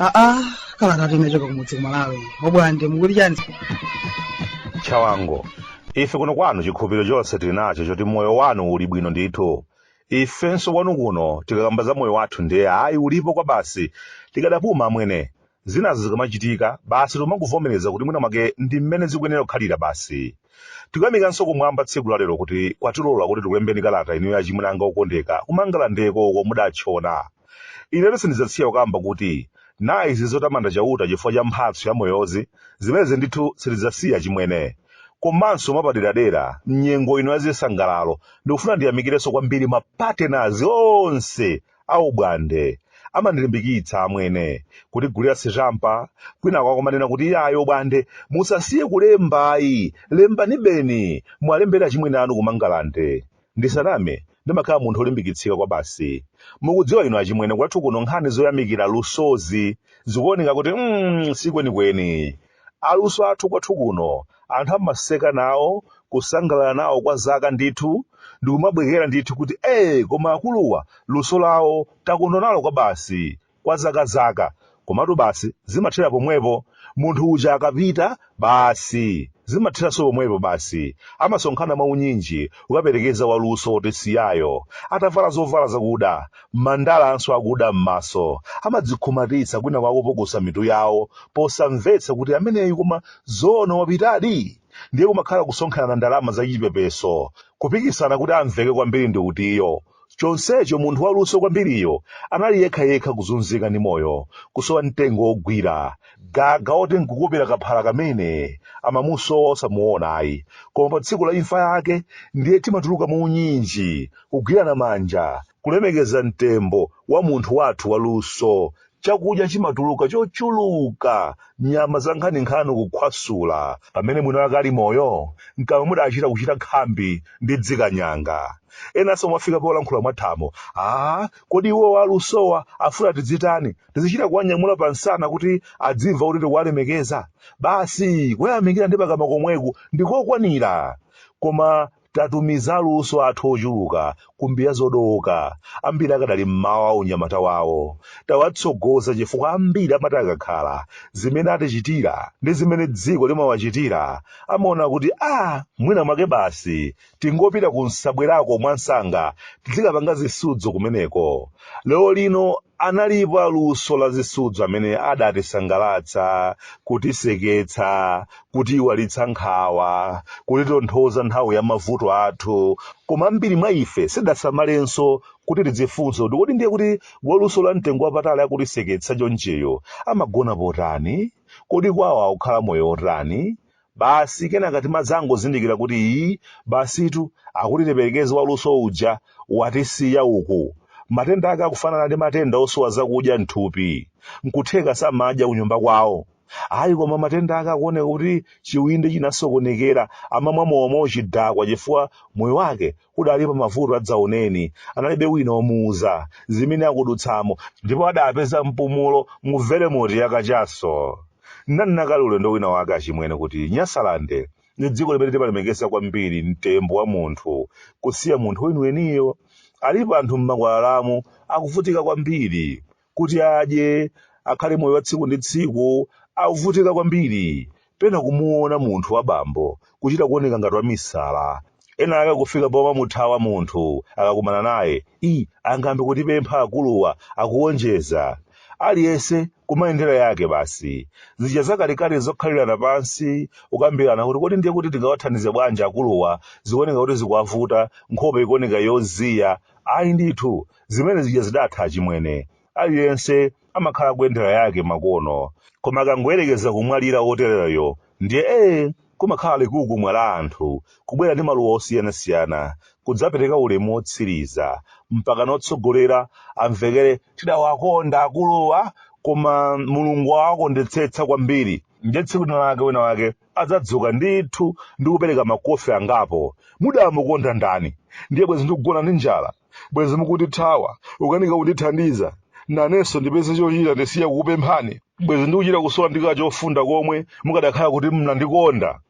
aa kalatatu imachoka kumudzi kumalawi obwande mukuli chani chawango ife kuno kwanu chikhulupiriro chonse tili nacho choti moyo wanu uli bwino ndithu ifenso kwanu kuno tikakamba za moyo wathu ndiye ayi ulipo kwa basi tikadapuma amwene Zinazo zikamachitika, basi timangovomereza kuti mwina mwake ndi mmene zikuyenera kukhalira basi. Tikuyamikanso kumwamba tsiku la lero kuti kwatilola kuti tikulembeni kalata inuyo achimwene anga okondeka kumangalandeko uko mudatchona. Inetu sindidzasiya kukamba kuti na izi zotamanda Chauta chifukwa cha mphatso ya moyozi, zimenezi ndithu sitidzasiya achimwene. Komanso mwapaderadera, m'nyengo ino ya zisangalalo, ndikufuna ndiyamikirenso kwambiri ma partners onse A Obwande amandilimbikitsa amwene kutigulira sitampa kwinaku akumanena kuti iyayi obwande musasiye kulemba ayi lembanibeni muwalembere achimwene anu ku mangalande ndisaname ndimakhala munthu olimbikitsika kwabasi mukudziwa inu achimwene kwathu kuno nkhani zoyamikira lusozi zikuoneka kuti mm, sikwenikweni Aluso athu kwathu kuno anthu amaseka nawo, kusangalala nawo kwa zaka ndithu, ndikumabwekera ndithu kuti ee koma akuluwa luso lawo takondwa nalo kwabasi, kwa zaka zaka. Komatu basi zimathera pomwepo, munthu uja akapita basi zimatheranso pomwepo basi. Amasonkhana mwaunyinji kukaperekeza waluso wotisiyayo, atavala zovala zakuda, Mandalanso akuda m'maso amadzikhumatitsa kwinaku akupukusa mitu yawo posamvetsa kuti ameneyu koma zoona wapitadi? Ndiye kumakhala kusonkherana ndalama za chipepeso, kupikisana kuti amveke kwambiri ndi utiyo. Chonsecho munthu waluso kwambiriyo anali yekhayekha kuzunzika ndi moyo, kusowa mtengo wogwira, gaga oti nkukupira kaphala kamene amamusowa osamuona ayi koma pa tsiku la imfa yake ndiye timatuluka mu unyinji kugwirana manja kulemekeza mtembo wa munthu wathu waluso chakudya chimatuluka chochuluka nyama za nkhaninkhani kukhwasula pamene mwini wake ali moyo mkamwa mudachita kuchita khambi ndi dzikanyanga enanso amafika polankhula mwathamo a kodi iwo alusowa afuna tidzitani tizichita kuwanyamula pa msana kuti adzimva kuti tikuwalemekeza basi kuyamikira ndi pakamwa komweku ndikokwanira koma tatumiza aluso athu ochuluka kumbiya zodowoka ambiri akadali mmawa wa unyamata wawo tawatsogoza chifukwa ambiri amati akakhala zimene atichitira ndi zimene dziko limawachitira amaona kuti a mwina mwake basi tingopita ku nsabwerako mwansanga tizikapanga zisudzo kumeneko lero lino analipo aluso la zisudzo amene adatisangalatsa kutiseketsa kutiiwalitsa nkhawa kutitonthoza nthawi ya mavuto athu koma ambiri mwa ife sidasamalenso kuti tidzifunse kuti kodi ndiye kuti waluso la mtengo wapatali akutiseketsa chonchiyu amagona potani kodi kwawo akukhala moyo otani Basi kenaka timadzangozindikira kuti, Iii, basitu, akuti tiperekeze waluso uja watisiya uku. Matenda ake akufanana ndi matenda osowa zakudya m'thupi. N'kutheka samadya kunyumba kwawo. Ayi koma matenda ake akuoneka kuti chiwindi chinasokonekera, amamwa mowa mwauchidakwa chifukwa moyo wake udali pa mavuto adzaoneni analibe wina omuuza zimene akudutsamo ndipo adapeza mpumulo mu velemoti ya kachaso ndinanakale ulendo wina wake achimwene kuti nyasalande ndi dziko limene timalemekeza kwambiri mtembo wa munthu kusiya munthu weniweniyo alipo anthu m'makwalalamu akuvutika kwambiri kuti adye, akhale moyo wa tsiku ndi tsiku, akuvutika kwambiri. Pena kumuona munthu wa bambo kuchita kuoneka ngati wamisala. Ena ake kufika pomamuthawa munthu akakumana naye. I, angambe kutipempha akuluwa, akuwonjeza. Aliyense kumayendera yake basi. Zija zakalekale zokhalirana pansi, kukambirana kuti kodi ndiye kuti tingawathandize bwanji akuluwa, zikuoneka kuti zikuwavuta, nkhope ikuoneka yoziya. Ayi ndithu, zimene zija zidatha achimwene aliyense amakhala kuyendera yake makono koma akangoyerekeza kumwalira wotereyo ndiye ee kumakhala likukumwa la anthu kubwera ndi maluwa osiyanasiyana kudzapereka ulemu wotsiriza mpaka notsogolera amvekere tidawakonda akuluwa koma mulungu awakondetsetsa kwambiri ndiye tsiku lina lake wina wake adzadzuka ndithu ndi kupereka makofi angapo. Mudamukonda ndani? Ndiye bwenzi ndikugona ndi njala? Bwenzi mukundithawa? Ukanika kundithandiza? Nanenso ndipeze chochita ndisiye kukupemphani? Bwenzi ndikuchita kusowa ndi kachofunda komwe mukadakhala kuti munandikonda?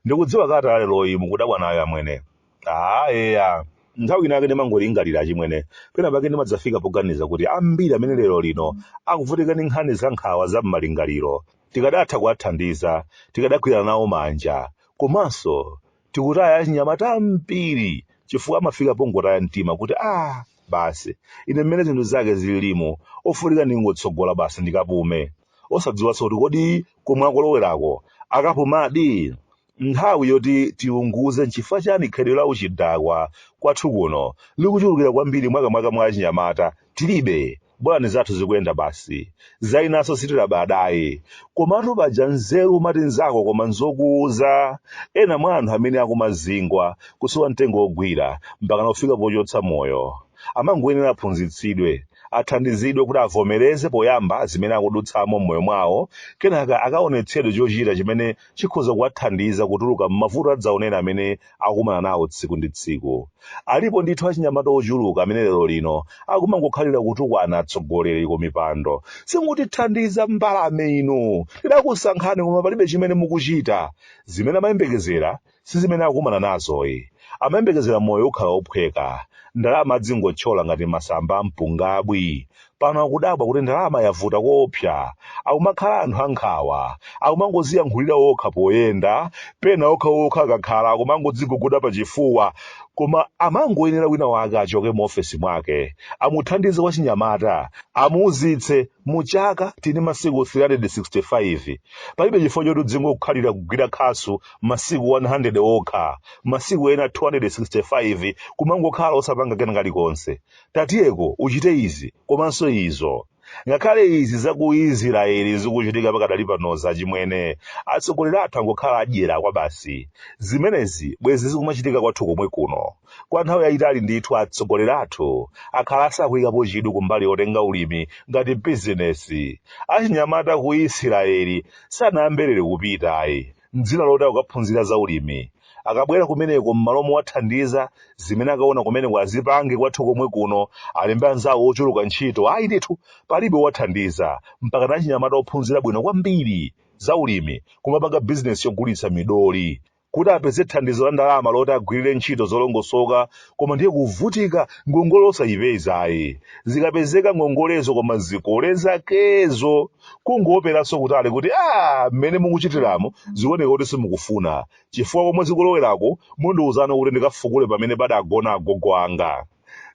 Ndikudziwa kalata ya leroyi mukudabwa nayo amwene. Ah, eya. Nthawi inake ndimangolingalira achimwene. Pena pake ndimadzafika poganiza kuti ambiri amene lero lino akuvutika ndi nkhani za nkhawa za m'malingaliro. Tikadatha kuwathandiza, tikadagwirana nawo manja. Komanso, tikutaya achinyamata ambiri chifukwa amafika pongotaya mtima kuti ah, basi, ine mmene zinthu zake zililimu, ofunika ndingotsogola basi ndikapume. Osadziwanso kuti kodi komwe akolowerako akapumadi? Nthawi yoti tiunguze nchifukwa chani khalidwe la uchidakwa kwathu kuno likuchulukira kwambiri makamaka mwa achinyamata tilibe. Bolani zathu zikuyenda basi. Zinanso sitilabadayi. Komatu paja nzeru umati nzako koma nzokuuza. Ena mwa anthu amene akumazingwa, kusowa mtengo wogwira, mpakana kufika pochotsa moyo. Amangoyenera aphunzitsidwe, athandizidwe kuti avomereze poyamba zimene akudutsamo m'moyo mwawo, kenaka akaonetsedwe chochita chimene chikhoza kuwathandiza kutuluka m'mavuto adzaoneni amene akumana nawo tsiku ndi tsiku. Alipo ndithu achinyamata ochuluka amene lero lino akumangokhalira kutukwana atsogoleri ku mipando. Simutithandiza mbalame inu! Tidakusankhani koma palibe chimene mukuchita. Zimene amayembekezera Si zimene akumana nazoyi. Amayembekezera moyo ukhala wophweka. Ndalama adzingothyola ngati masamba a mpungabwi. Pano akudabwa kuti ndalama yavuta koopsa. Akumakhala anthu a nkhawa. Akumangoziyankhulira okha poyenda, pena okhaokha akakhala akumangodziguguda pachifuwa. Koma amangoyenera wina wake achoke mu ofesi mwake, amuthandize wachinyamata, amuuzitse. mu chaka tini masiku 365 palibe chifukwa choti udzingokhalira kugwira khasu masiku 100 okha masiku ena 265 kumangokhala osapanga kena kalikonse tatiyeko uchite izi komanso izo ngakhale izi za ku israeli zikuchitika pakadali panoza achimwene atsogoleri athu angokhala adyera kwa basi zimenezi bwezi zikumachitika kwathu komwe kuno Kwa nthawi yayitali ndithu atsogoleri athu akhala asakuyikapo chidwi kumbali yotenga ulimi ngati bizinesi. Achinyamata ku Isiraeli sanayambe lero kupita ayi m'dzina loti akukaphunzira za ulimi. Akabwera kumeneko m'malo mowathandiza, zimene akaona kumeneko azipange kwathu komwe kuno, alembe anzawo ochuluka ntchito. Ayi ndithu, palibe owathandiza. Mpakana achinyamata ophunzira bwino kwambiri za ulimi kumapanga bizinesi yogulitsa midoli. kuti apeze thandizo la ndalama loti agwirire ntchito zolongosoka koma ndiye kuvutika ngongole osayipeza ayi zikapezeka ngongolezo koma zikole zakezo kungoopseranso kutali kuti a mmene mukuchitiramo zikuoneka kuti simukufuna chifukwa komwe zikulowerako mundiwuzanso kuti ndikafukule pamene padagona agogo anga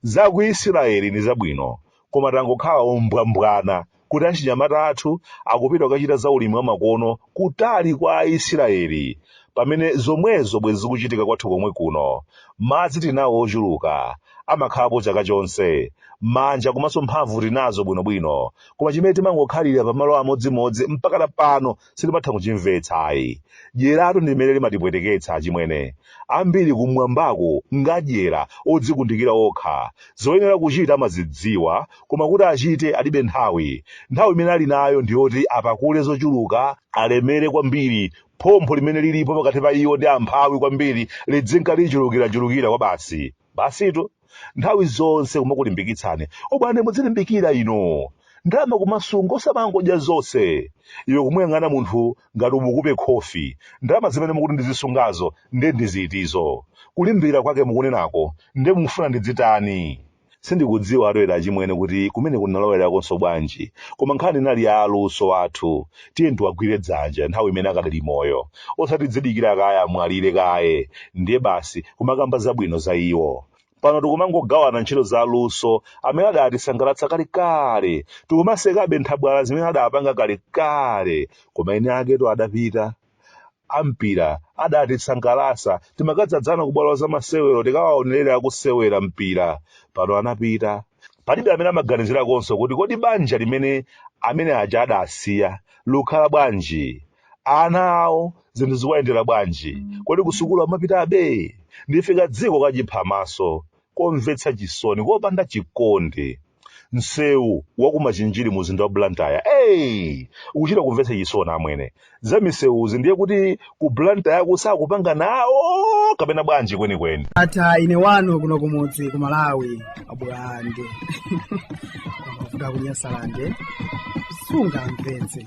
za ku isirayeli ndi zabwino koma tangokhala ombwambwana kuti achinyamata athu akupita kukachita za ulimi wamakono kutali kwa Aisiraeli, pamene zomwezo bwezi zikuchitika kwathu komwe kuno. Madzi tinawo ochuluka, amakhalapo chaka chonse, manja komanso mphamvu tinazo bwinobwino, koma chimene timangokhalira pamalo amodzimodzi mpakana pano sindimatha kuchimvetsa ayi dyeratu ndi limene limatipweteketsa achimwene ambiri kumwambako ngadyera odzikundikira okha zoyenera kuchita amazidziwa koma kuti achite alibe nthawi nthawi imene ali nayo ndiyoti apakule zochuluka alemere kwambiri phompho limene lilipo pakati pa iwo ndi amphawi kwambiri lidzinka lichulukirachulukira kwa basi basitu nthawi zonse kumakulimbikitsani abwana mudzilimbikira ino ndalama kumasunga osamangodya zonse iwe kumuyang'ana munthu ngati umukupe khofi ndalama zimene mukuti ndizisungazo nde ndizitizo kulimbikira kwake mukunenako nde mufuna ndidzitani sindikudziwa ataoloka achimwene kuti kumene kunalowerakonso bwanji koma nkhani inali ya aluso athu tiyeni tiwagwire dzanja nthawi imene akadali moyo osati tidzidikira kaye amwalire kaye ndiye basi kumakamba zabwino za iwo pano tikumangogawana ntchito za aluso amene adatisangalatsa kalekale tikumasekabe nthabwala zimene adapanga kalekale koma eni akewo adapita a mpira adatisangalatsa timakadzadzana ku bwalo la zamasewero tikawaonerere akusewera mpira pano anapita palibe amene amaganizirakonso kuti kodi banja limene amene aja adasiya likukhala bwanji ana awo zinthu zikuwayendera bwanji kodi kusukulu amapitabe ndife kadziko kachiphamaso komvetsa chisoni kopanda chikondi msewu wa ku machinjiri mu mzinda wa blantyre eyi ukuchita kumvetsa chisoni amwene za misewuzi ndiye kuti ku blantyre sakupanga nawo kapena bwanji kwenikweni ata ine wanu kuno kumudzi ku malawi abulande a ku nyasalande sungamvetse